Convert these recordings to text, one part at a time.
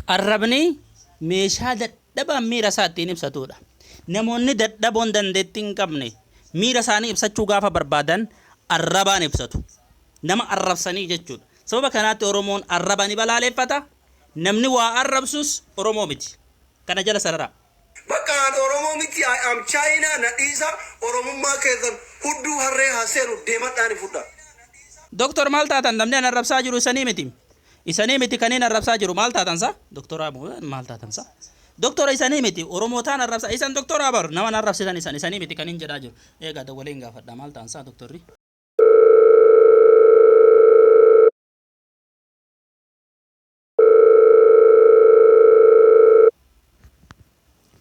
Arrabni meeshaa dadhabaan miira isaa ittiin ibsatuudha. Namoonni dadhaboon dandeettii hin qabne miira isaanii ibsachuu gaafa barbaadan arrabaan ibsatu. Nama arrabsanii jechuudha. Sababa kanaatti Oromoon arraba ni balaaleeffata. Namni waa arrabsus Oromoo miti. Kana jala sararaa. Bakka an oromoo miti I am China na dhiisa oromummaa keessan hudduu harree ha seenu deemadhaa ni fudhaa. Doktar maal taatan namni an arrabsaa jiru isanii miti isanii miti kaniin arrabsaa jiru maal taatan sa doktoraa mo maal taatan sa doktora isanii miti oromootaan arrabsaa isan doktoraa bar naman arrabsitan isan isanii miti kaniin jedhaa jiru eegaa dawwalee hin gaafadha maal taan sa doktorri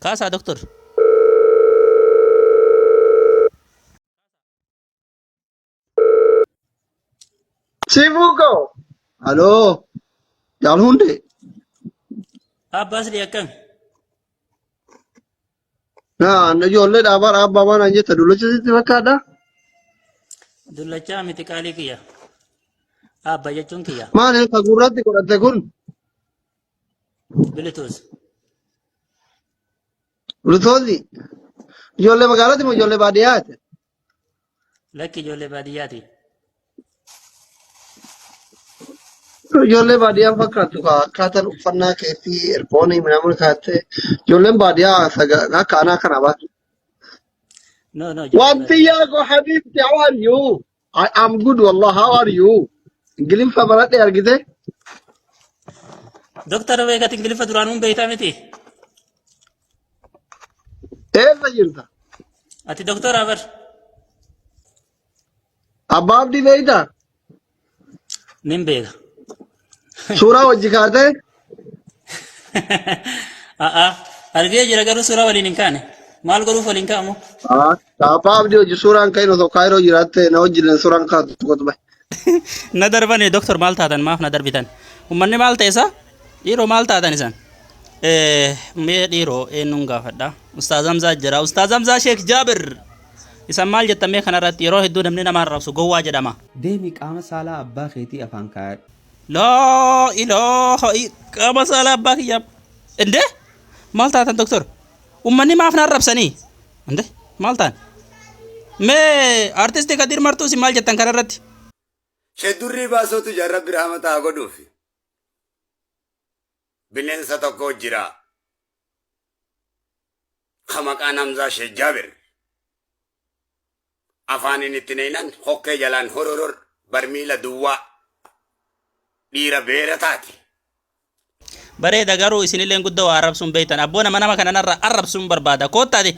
Kaasaa doktor. Sifuu koo. Aloo. Jaal hundee. Abbaa Asli akkami? Naa na ijoollee dhaabaa dhaabbaa baanaan jetta dullacha sitti fakkaadha. Dullachaa miti qaalii kiyya. Aabba jechuun kiyya. Maali ka gurratti godhatte kun Bilituus. bultoonni ijoollee magaalatti moo ijoollee baadiyyaati? Lakki ijoollee baadiyyaati. Ijoollee baadiyyaa fakkaattu kaa akkaataan uffannaa keetii ergoonii midhamuun kaattee ijoolleen baadiyyaa akka anaa kana baatu. No, no, ijoollee Wanti baadiyyaa. yaa koo habiibti how are you? I am good wallah how are you? Ingiliffa baradhee argite? Doktar beekati Ingiliffa duraanuun beektaa miti. Eessa jirta? Ati doktora bar. Abbaa Abdii beektaa? Nin beeka. Suuraa wajji kaatee? A'a. Argee jira garuu suuraa waliin hin kaane. Maal godhuuf waliin ka'amu? Haa. Papa abdi hojii suuraan ka'in osoo kaayiroo jiraatte na wajjin suuraan kaatu tokkotu bahe. na darbani doktor maal taatan maaf na darbitan ummanni maal ta'e isa dhiiroo maal taatan isan Eh, mee dhiiroo eenyuun gaafadha ustaaz hamzaa jira ustaaz hamzaa sheek jaabir isan maal jettan mee kanarratti yeroo hedduu namni nama arrabsu gowwaa jedhama Deemi qaama saalaa abbaa keetii afaan kaayadhu. laa ilaaha i- qaama saalaa abbaa kiyyaa indee maal taatan doktor Ummanni maaf na arrabsanii? Ande maal ta'an? Mee artisti Kadir Martuu isin maal jettan kanarratti? Sheek Durrii Baasootu jira Rabbi rahmata haa godhuufi. Bineensa tokko jira. Ka maqaan Hamzaa Sheek Jaabir. Afaanin itti naynan hokkee jalaan hororor barmiila duwwaa dhiira beera taate. Bareeda garuu isinilleen gudda waa arrabsuun beektan abboo nama nama kana narra arrabsuun barbaada koottaati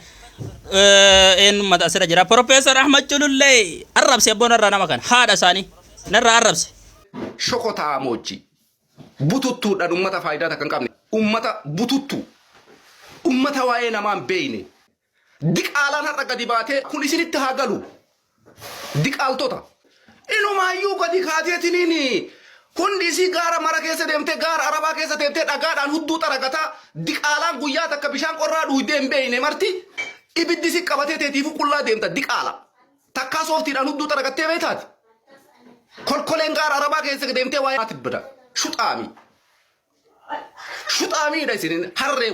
eenyummata asirra jira Profeesar Ahmad Culullee arrabse abboo narra nama kana haadha isaanii narra arrabse. shokotaa moojjii bututtuudhaan ummata faayidaa takka hin qabne ummata bututtuu ummata waa'ee namaa hin beekne Diqaalaan har'a gadi baatee kun isinitti haa galu. Diqaaltota. Inumaayyuu gadi kaateetiniin hundi isii gaara mara keessa deemtee gaara arabaa keessa deemtee dhagaadhaan hudduu xaragataa diqaalaan guyyaa takka bishaan qorraa dhuuydee hin beeyne marti ibiddi si qabatee teetiifuu qullaa deemta diqaala. Takkaa sooftiidhaan hudduu xaragattee beeytaati. Kolkoleen gaara arabaa keessa deemtee waa'ee tibbida. Shuxaamii. Shuxaamiidha isin harree.